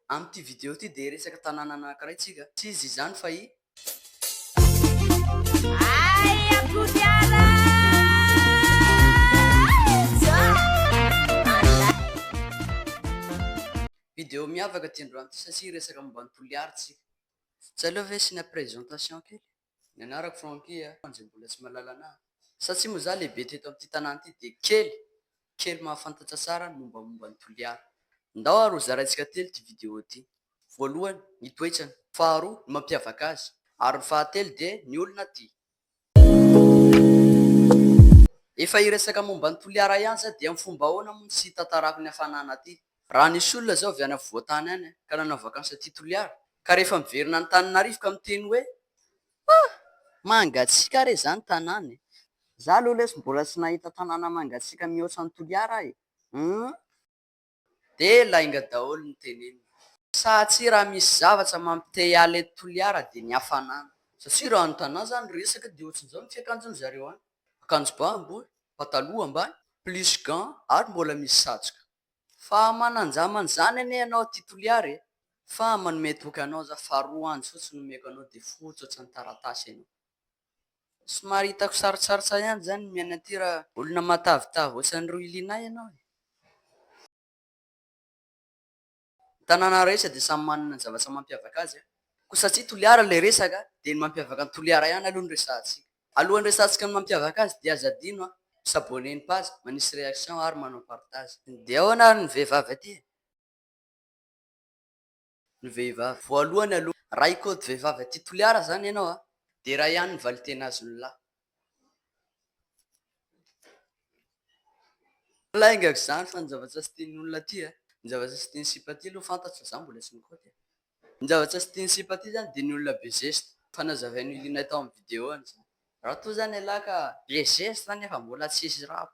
Amin'ity video ity dia hiresaka tanàna anankiray tsika. Tsy iza izany fa i. Video miavaka ity androany ity satsia hiresaka momba an'i Toliary tsika. Tsy aleo ve asiana présentation kely? Ny anarako Francky a. Hoan'izay mbola tsy mahalala anahy. Satsia moa za lehibe teto amin'ity tanàna ity dia kely, kely mahafantatra tsara ny mombamomba an'i Toliara. Ndao ary ho zaraintsika telo ity vidéo ity. Voalohany, ny toetrany. Faharoa, ny mampiavaka azy. Ary ny fahatelo dia ny olona aty. Efa hiresaka momba an'i Toliara ihany za dia amin'ny fomba ahoana moa no tsy hitantarako ny hafanana aty. Raha nisy olona zao avy any afovoan-tany any ka nanao vakansy aty Toliara ka rehefa miverina any Taninarivo ka miteny hoe ah! mangatsiaka re zany tanàna e! za aloha lesy mbola tsy nahita tanàna mangatsiaka mihoatra an'i Toliara aho e! humm! Dia lainga daholo ny teneniny. Sa tsia raha misy zavatra mampite hiala eto Toliara dia ny hafanana. Satria raha ny tanà zany resaka dia ohatrin'izao ny fiakanjon'ny zareo any, akanjo ba ambony, pataloha ambany, plus gants ary mbola misy satroka. Fa mananjama an'izany anie ianao aty Toliary e! Fa manome toky anao za fa roa andro fotsiny no omeko anao dia fotsotry ny taratasy ianao. Somary hitako sarotsarotsa ihany izany ny miaina aty raha olona matavitavy ohatran'i Rohilinah ianao e! Ny tanàna rehetra dia samy manana ny zavatra mampiavaka azy an! Koa satria Toliara ilay resaka dia ny mampiavaka an'i Toliara ihany aloha no resahantsika. Alohan'ny resahantsika ny mampiavaka azy dia aza adino an! mi-s'abonner ny page, manisy réaction ary manao partage. Dia ahoana ary ny vehivavy aty e? Ny vehivavy voalohany aloha. Raha hikôdy vehivavy aty Toliara izany ianao an! Dia iray ihany ny valintena azon'ny lahy. Lainga ko zany fa ny zavatra tsy tian'ny olona aty a, ny zavatra tsy tian'ny sipa aty aloha fantatro fa za mbola tsy nikaoty e, ny zavatra tsy tian'ny sipa aty zany dia ny olona be zesta, efa nazavain'olona iray tao amin'ny video an'izany, raha toa zany ialahy ka be zesta nefa mbola tsisy rap.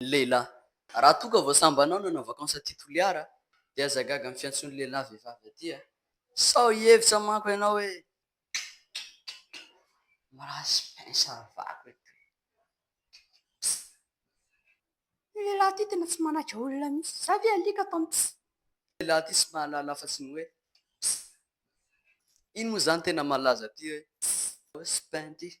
ny lehilahy. Raha toa ka vao sambany anao nanao vakansy aty Toliara dia aza gaga amin'ny fiantsoan'ny lehilahy vehivavy aty a! Sao hihevitra manko ianao hoe mirasy pince havako eto e! Pss! Io lehilahy ity tena tsy manaiky olona mihitsy. Za ve alika atao ny pss? Ity lehilahy ity tsy mahalala afa-tsy ny hoe pss! Iny moa izany tena malaza aty hoe pss! Pss! Pss! Pss! Pss!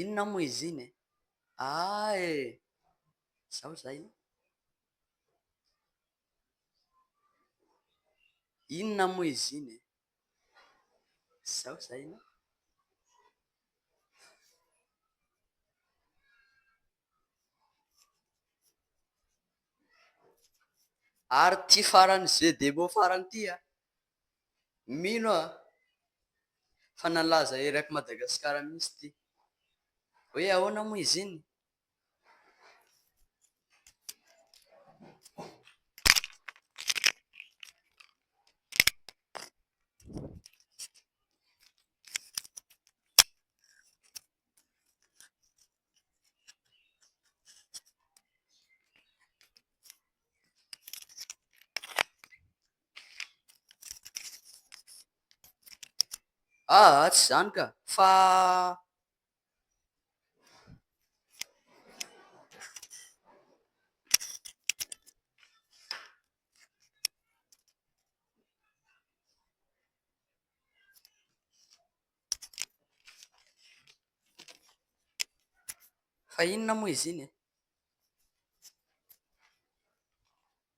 Inona moa izy iny e? Ah eh! Izao izay an! Inona moa izy iny e? Izao izay an! Ary ity farany jeux de mots farany ity an! Mino aho fa nalaza erak'i Madagasikara mihitsy ity. Hoe ahoana moa izy iny? Aa tsy izany ka! fa inona moa izy iny e?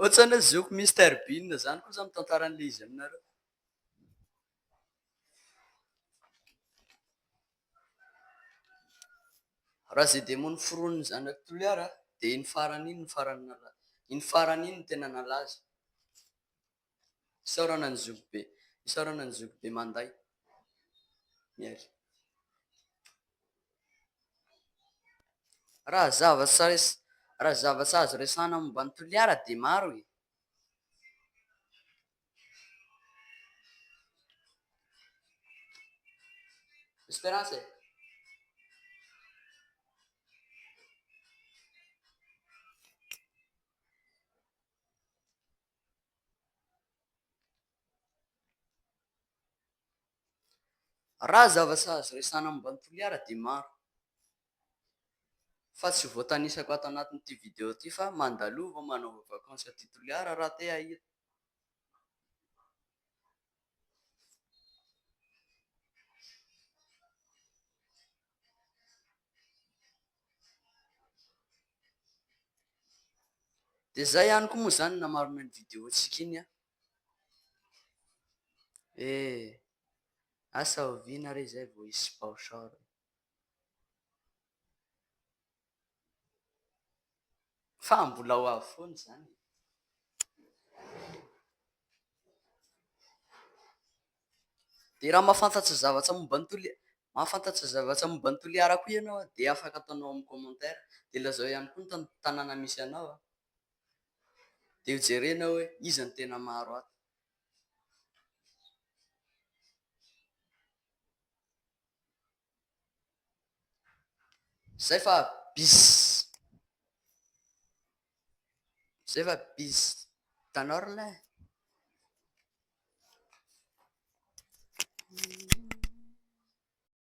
Ohatrany hoe zoky Mister Bean izany kosa ny tantaran'ilay izy aminareo. Raha izay demony foronin'ny zanak'i Toliara dia iny farany iny no farany nalaza, iny farany iny no tena nalaza. Isaorana ny zoky be. Isaorana ny zoky be manday ny air. Raha zavatra res- raha zavatra azo resahana momba an'i Toliara dia maro e! Esperance e! Raha zavatra azo resahana momba an'i Toliara dia maro, fa tsy voatanisako ato anatin'ity video ity fa mandalova manova vakansy aty Toliara raha te hahita. Dia izay ihany koa moa izany na marina iny video-ntsika iny an! Eh! Asa oviana re izay vao hisy baoshore? Fa mbola ho avy foana izany e! Dia raha mahafantatra zavatra momba an'i Toliara, mahafantatra zavatra momba an'i Toliara koa ianao an, dia afaka ataonao amin'ny commentaire, dia lazao ihany koa ny tan tanàna misy anao an, dia ho jerenao hoe iza no tena maro ato. Zay fa bis. Zay fa bis. Hitanao ry lahy e.